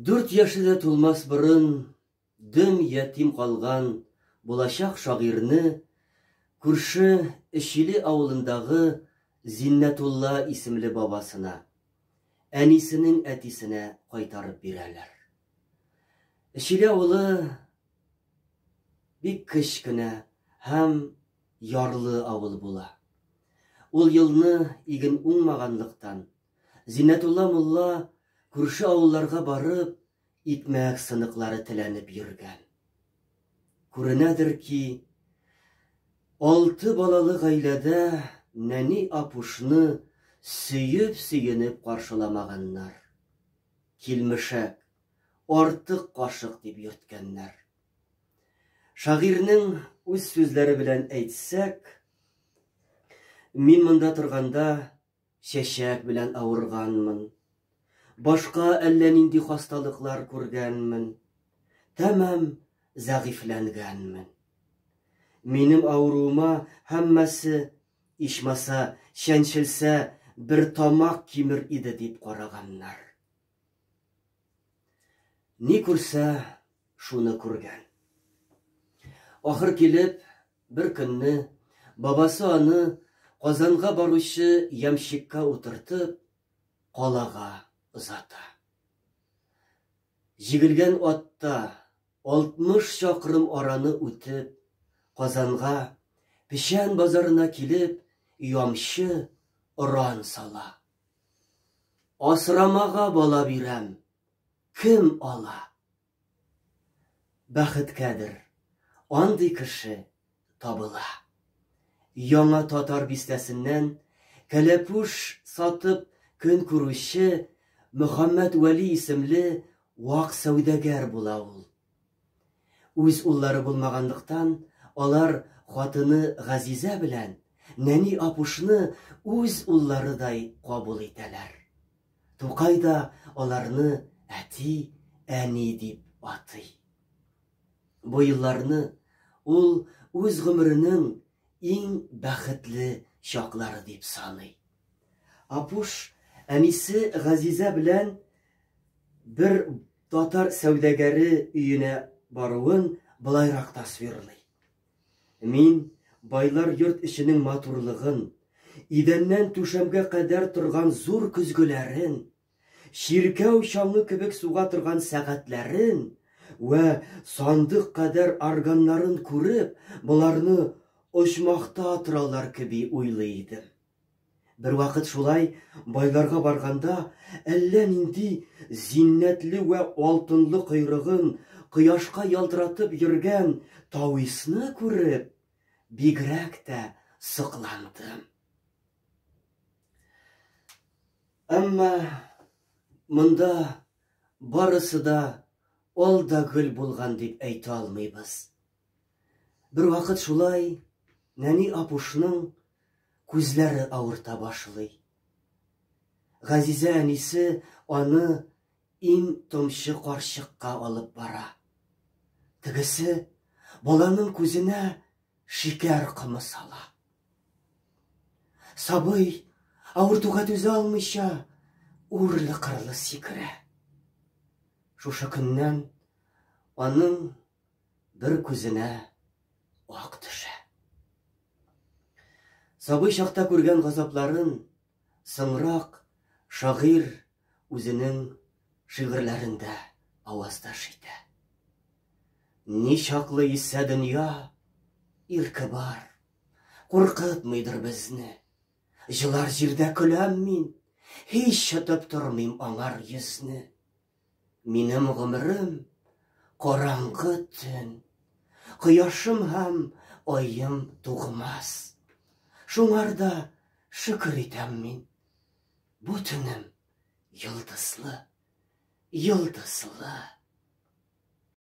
Дүрт яше дә тулмас борын дөм ятим калган булачак шагыйрьне күрше Эчиле авылындагы Зиннәтулла исемле бабасына, әнисенең әтисенә кайтарып бирәләр. Эчүгә улы бик кечкенә һәм ярлы авыл була. Ул елны иген уңмаганлыктан, Зиннәтулла мулла күрше авылларга барып, икмәк сыныклары теләнеп йөргән. Күренәдер ки, алты балалы гаиләдә нәни апушны сөеп-сөенеп каршыламаганнар. Килмешәк, артык кашык дип йөрткәннәр. Шагыйрьнең үз сүзләре белән әйтсәк, Мин монда торганда чәчәк белән авырганмын. Башка әллә нинди хасталыклар күргәнмен. Тәмам зәгыйфьләнгәнмен. Минем авыруыма һәммәсе Ичмаса, чәнчелсә, бер тамак кимер иде дип караганнар. Ни күрсә, шуны күргән. Ахыр килеп, бер көнне бабасы аны Казанга баручы ямщикка утыртып, калага озата. Җигелгән атта 60 чакрым араны үтеп, Казанга, Печән базарына килеп, ямчы, оран сала. Асрамага бала бирәм, кем ала? Бәхеткәдер, андый кеше табыла. Яңа Татар бистәсеннән кәләпүш сатып көн күрүче Мөхәммәт Вәли исемле вак сәүдәгәр була ул. Үз уллары булмаганлыктан, алар хатыны Газизә белән нәни Апушны үз улларыдай кабул итәләр. Тукай да аларны әти, әни дип атый. Бу елларны ул үз гомеренең иң бәхетле чаклары дип саный. Апуш әнисе Газизә белән бер татар сәүдәгәре өенә баруын болайрак тасвирлый. Мин байлар йорт эченең матурлыгын, идәннән түшәмгә кадәр торган зур көзгеләрен, Чиркәү чаңы кебек суга торган сәгатьләрен вә сандык кадәр органнарын күреп, боларны оҗмахта торалар кеби уйлый идем. Бервакыт шулай байларга барганда, әллә нинди зиннәтле вә алтынлы койрыгын кояшка ялтыратып йөргән тависны күреп, бигрәк тә сокландым. Әмма монда барысы да ал да гөл булган дип әйтә алмыйбыз. Бер вакыт шулай нәни апушның күзләре авырта башлый. Газизә әнисе аны иң томчы карчыкка алып бара. Тегесе баланың күзенә Шикәр комы сала. Сабый, авыртуга түзә алмыйча, үрле-кырлы сикерә. Шушы көннән аның бер күзенә ак төшә. Сабый чакта күргән газапларын соңрак шагыйрь үзенең шигырьләрендә аваздаш итә. Ничаклы исә дөнья ирке бар, куркытмыйдыр безне. Җылар җирдә көләм мин, һич чытып тормыйм аңар йөзне. Минем гомерем караңгы төн, кояшым һәм айым тугмас. Шуңарда шөкер итәм мин. Бу төнем йолдызлы, йолдызлы.